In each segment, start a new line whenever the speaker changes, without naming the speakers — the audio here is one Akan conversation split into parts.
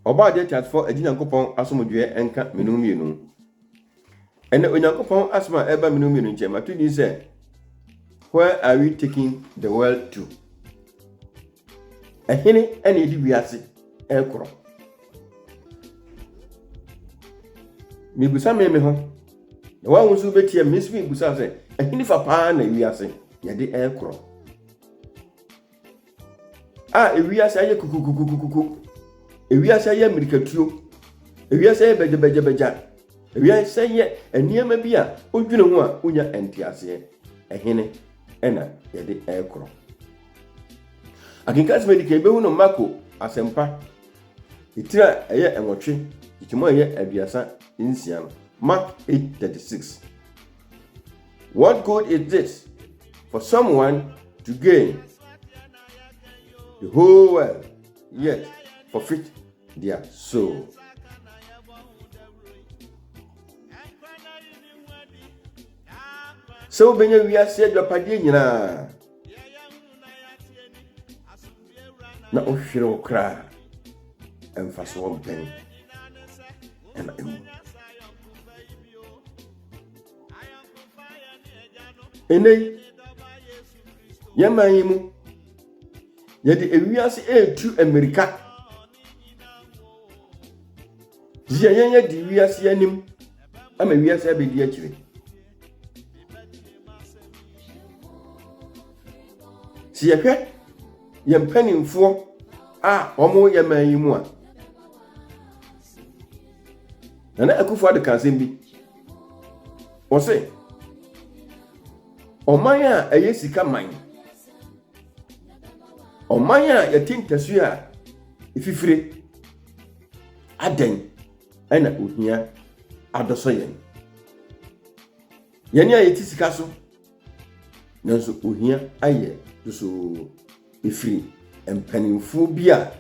Ɔbɔadeɛ teasefɔ agye Nyankopɔn asomdwoeɛ nka me no mmienu. Ɛnɛ Onyankopɔn asɛm a ɛba me no mmienu nkyɛn mato din sɛ Where are we taking the world to? Ɛhene ɛna ɛdi wiase ɛkorɔ. Mebisa me me ho na wɔn ahosuo bɛtia me nso mebisa sɛ ɛhene fa paa na wiase yɛde ɛkorɔ. a ewiase ayɛ kukukukukuku ewiase ayɛ mmirikatuo ewiase ayɛ bɛgyɛbɛgyɛbɛgya ewiase ayɛ nneɛma bi a wodwene ho a wonya nteaseɛ ɛhene ɛna yɛde ɛrekorɔ akenkan sɛm adi kan yɛbɛhu no mako asɛmpa ɛtiri a ɛyɛ nwɔtwe ɛtiri mu a ɛyɛ aduasa nsia no mark 836 What good is this for someone to gain the whole world yet forfeit their soul? sɛ wobɛnya wiase adwapadeɛ nyinaa na wohwere wo koraa ɛmfa so wɔmpɛn ɛna ɛmu ɛnɛ yi yɛman yi mu yɛde ewiase ɛretu mmirika yɛ yɛn adi wiase anim ama wiase abɛdi akyire sɛ yɛhwɛ yɛn mpanimfoɔ a wɔyɛ man yi mu a nana akufo ado ka asɛm bi Ɔse ɔman a ɛyɛ sika man, ɔman a yɛte ntasu a efifire, adɛn ɛna ohia adɔsɔ yɛn? Yɛn a yɛte sika so. Nanso ohia ayɛ dosoo firi mpanimfoɔ bi a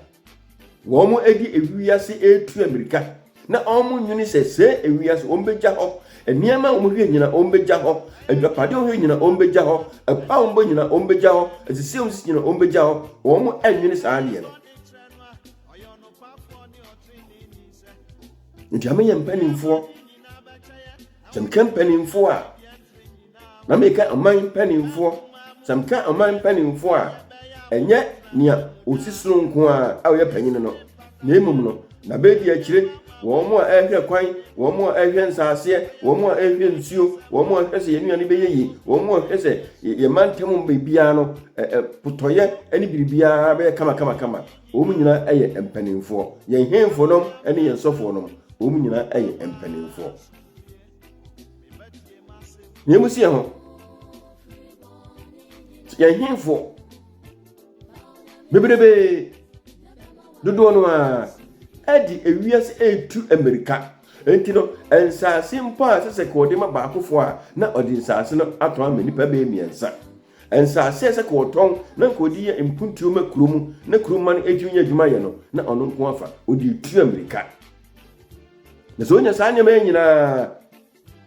wɔde ewiase retu amirika na wɔnwene sɛ sɛ ewiase wɔbɛgya hɔ, nneɛma a wɔhwɛ nyina wɔbɛgya hɔ, adwapadeɛ wɔhwɛ nyina wɔbɛgya hɔ, ɛpo a wɔbɔ nyina wɔbɛgya hɔ, asisi a wɔsisi nyina wɔbɛgya hɔ, wɔnwene saa adeɛ no. Nti ameyɛ mpanimfoɔ Sɛ meka mpanimfoɔ a, na meka ɔman mpanimfoɔ. Sɛ meka ɔman mpanimfoɔ a, ɛnyɛ nea ɔsi sono nko a a ɔyɛ panyin no, na mmom no, na bɛdi akyire wɔn a ɛrehwɛ kwan, wɔn a ɛrehwɛ nsaaseɛ, wɔn a ɛrehwɛ nsuo, wɔn a ɛrehwɛ sɛ yɛn nnuane bɛyɛ yie, wɔn a ɛrehwɛ sɛ yɛn mantam biribiara no, potɔyɛ ne biribiara bɛyɛ kamakamakama. Wɔn nyinaa yɛ mpanimfoɔ. Yɛn hemfo nom ne yɛn sɔfoɔ nom, wɔn nyinaa yɛ mpanimfoɔ. Nea mu si yɛn ho, yɛn hemfo bebrebe dodoɔ no ara ɛde ewiase etu mmirika nti no nsaase mpo a sɛ sɛ kɔɔde ma baakofoɔ a na ɔde nsaase no atɔ ama nipa bɛyɛ mmiɛnsa. Nsaase a ɛsɛ ka ɔtɔn na nka ɔde yɛ mpuntuo ma kuro mu na kuro mma no ɛtumi nya adwuma yɛ no, na ɔno nko afa, ɔde tua mmirika. Na sɛ ɔnya saa nneɛma yɛ nyinaa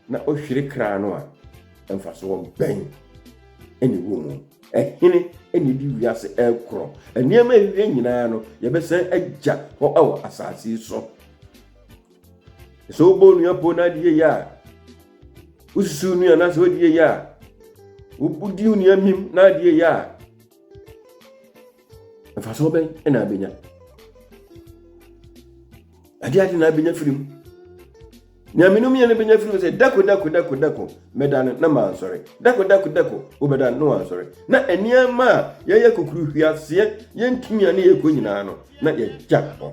na ɔhwere kra no a, mfasoɔ bɛn ɛna ɛwɔ mu? Ɛhene ɛna ɛdi wiase ɛkorɔ. Nneɛma ɛwie nyinaa no, yɛbɛsan agya hɔ wɔ asaase so. Sɛ wobɔ onua pon na adi yɛyɛ a, wosusu onua na sɛ wadi yɛyɛ a, wodi onua mim na adi yɛyɛ a, mfasoɔ bɛn na abɛnya? Ade ade na abɛnya firi mu. Nea mene mu yɛ no bɛnya firi mu sɛ dako dako dako dako mɛda no na mansɔre dako dako dako wobɛda no na wansɔre na nneɛma a yɛyɛ kukuru hwiaseɛ yɛntumi a ne yɛkɔ nyinaa no na yɛgya hɔ.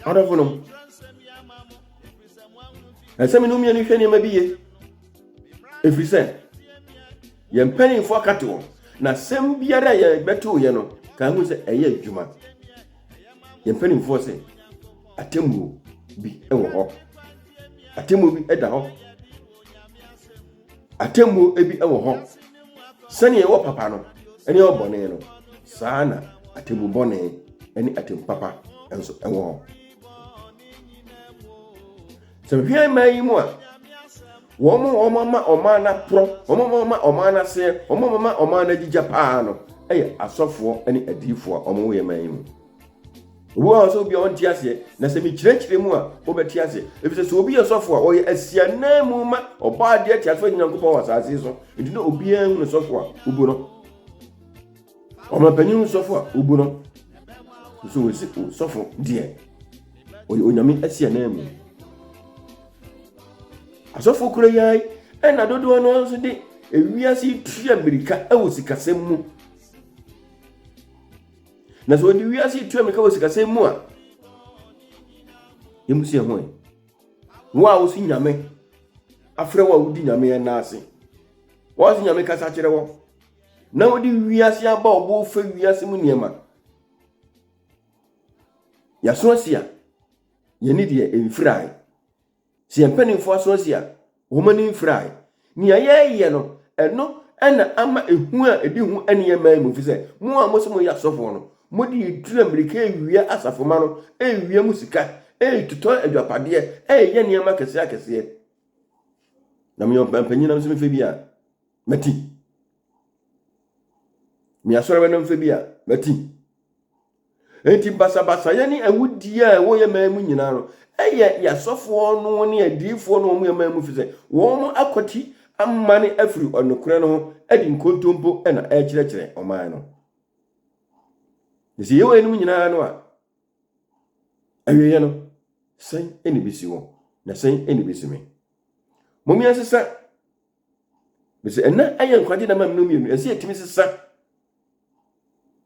adɔfo nom ɛsɛ me no mmienu hwɛ nneɛma bi ye ɛfiri sɛ yɛn mpanimfoɔ akate wɔn na sɛm biara a yɛbɛto yɛ no ka ho sɛ ɛyɛ adwuma yɛn mpanimfoɔ sɛ atemmuo bi wɔ hɔ atemmuo bi da hɔ atemmuo bi wɔ hɔ sɛnea ɛwɔ papa no ne ɛwɔ bɔne no saa na atemmu bɔne ne atemmu papa nso ɛwɔ hɔ sɛ hwɛ mmaa yi mu a wɔn a wɔn ama ɔman no aporɔ wɔn a wɔn ama ɔman no aseɛ wɔn a wɔn ama ɔman no agyigya paa no yɛ asɔfoɔ ne adiifoɔ a wɔwɔ yɛ mmaa yi mu. Obi wɔ hɔ sɛ obi a ɔnte aseɛ, na sɛ mekyerɛkyerɛ mu a, wobɛte aseɛ. Efisɛ sɛ obi yɛ sɔfo a, ɔyɛ asianan mu ma ɔbɔ adeɛ atiafoɔ agye Nyankopɔn wɔ asase so. Nti na obiara hu no sɔfo a wobu no. Ɔmampanin hu sɔfo a wobu no. Nso wɔsi sɔfo deɛ ɔyɛ onyame asianan mu. Asɔfo kura yi ara ɛna dodoɔ no nso de ewiase tua mmirika wɔ sikasɛm mu. Na sɛ wɔde wiase yi tu ammirika wɔ sikasɛm mu a, yɛmu si ɛho ɛ. Wo a wosi nyame afrɛ wo a wodi nyame ɛna ase. Wɔn se nyame kasa kyerɛ wɔ. Na wode wiase aba ɔbo fa wiase mu nneɛma. Yɛaso asi a, yɛne deɛ ɛmfirae. Sɛ yɛn mpanimfoɔ aso asi a, wɔn ani mfirae. Nea yɛreyɛ no, ɛno na ama ehu a edi ho nneɛma yi mu, efisɛ mo a mose moyɛ asɔfoɔ no, mode aduru a mmirika rewia asafomma no rewia mu sika, retotɔ agyapadeɛ, reyɛ nneɛma akɛseɛ akɛseɛ. Na meyɛ ɔpampanyin nam sɛ mfe bi a mati. Meyɛ asɔre no mfe bi a mati. Enti basabasayɛ ne awudie a ɛwɔ yɛn man mu nyinaa no, ɛyɛ yɛn asɔfoɔ no ne adiyifoɔ no wɔn yɛn man mu ɛfiri sɛ wɔn akwati amane afiri nokorɛ no ho de nkontompo na ɛrekyerɛkyerɛ ɔman no. Na sɛ yɛwɔ yɛnom nyinaa no a, awieɛ no, sɛn na ɛbɛsi wɔn na sɛn na ɛbɛsi me? Mommea nsesa Bese ɛna ɛyɛ nkwagye na mam no mmienu ɛsɛ yɛtumi sesa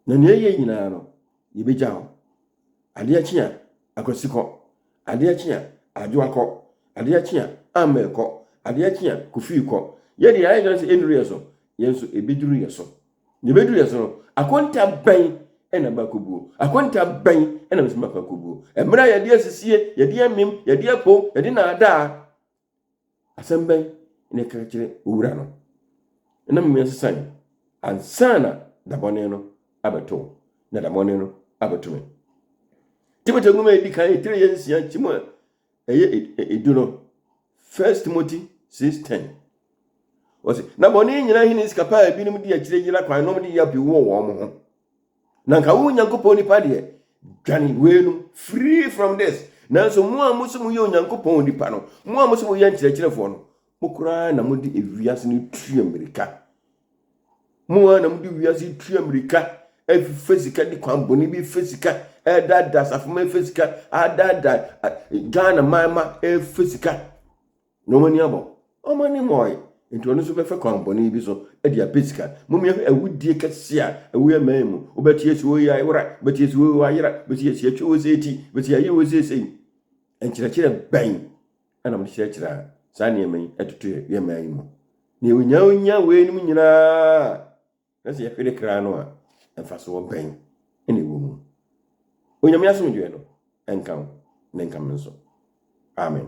na nea ɛyɛ nyinaa no yɛbɛgya hɔ adeɛ kye a akwasi kɔ adeɛ kye a adwoa kɔ adeɛ kye a amɛ kɔ adeɛ kye a kofii kɔ yɛde ayɛ nyɛ sɛ ɛnuru yɛ so yɛn nso ɛbɛduru yɛ so na ɛbɛduru yɛ so no akonta bɛn ɛna bakɔbuo akonta bɛn ɛna bɛsɛ makɔ akɔbuo ɛmmerɛ a yɛde asisie yɛde amim yɛde apom yɛde naadaa Asɛm bɛn na ɛka kyerɛ owura no? Ɛnam nea ɛsesa yi ansa na dabɔne no abɛto wo, na dabɔne no abɛto me. Timothy nwoma edi kan etire yɛ nsia nkyɛn mu a ɛyɛ edu no, First Timothy six ten. Wɔsi na bɔne nyinaa hene sika paa ebinom di akyire yera kwan nom de yɛ apiwu wɔ wɔn ho. na nka wo onyankopɔn nipa deɛ dwane weinom free from this nanso mo a mo so moyɛ onyankopɔn nipa no mo a mo so moyɛ nkyerɛkyerɛfoɔ no mo koraa na mode ewiase no tu mmirika mo a na mode wiase tu mmirika ɛfɛ sika de kwan bɔne bi fɛ sika ɛdaadaa asafo ma ɛfɛ sika adaadaa ghana man ma ɛfɛ sika Na wɔn ani abɔ. Wɔn ani mmɔɔe. Enti ɔno nso bɛfa kwan bɔne bi so de apɛ sika. Mmom yɛhwɛ awudie kɛseɛ a ɛwɔ yɛn man mu. Wobɛte yɛsi wei ayera, wobɛte yɛsi wei ayera, wobɛsi yɛsi yɛtwe wei sɛ eti, wobɛsi yɛayɛ wei sɛ sei. Nkyerɛkyerɛ bɛn ɛna wɔde kyerɛkyerɛ a saa nneɛma yi ɛtoto yɛn man yi mu? Nea onya onya wei nom nyinaa na sɛ yɛhwere kra no a mfasoɔ bɛn ɛna ɛwɔ mu? Onyame asomdwoeɛ no ɛnka wo na ɛnka me nso. Amen.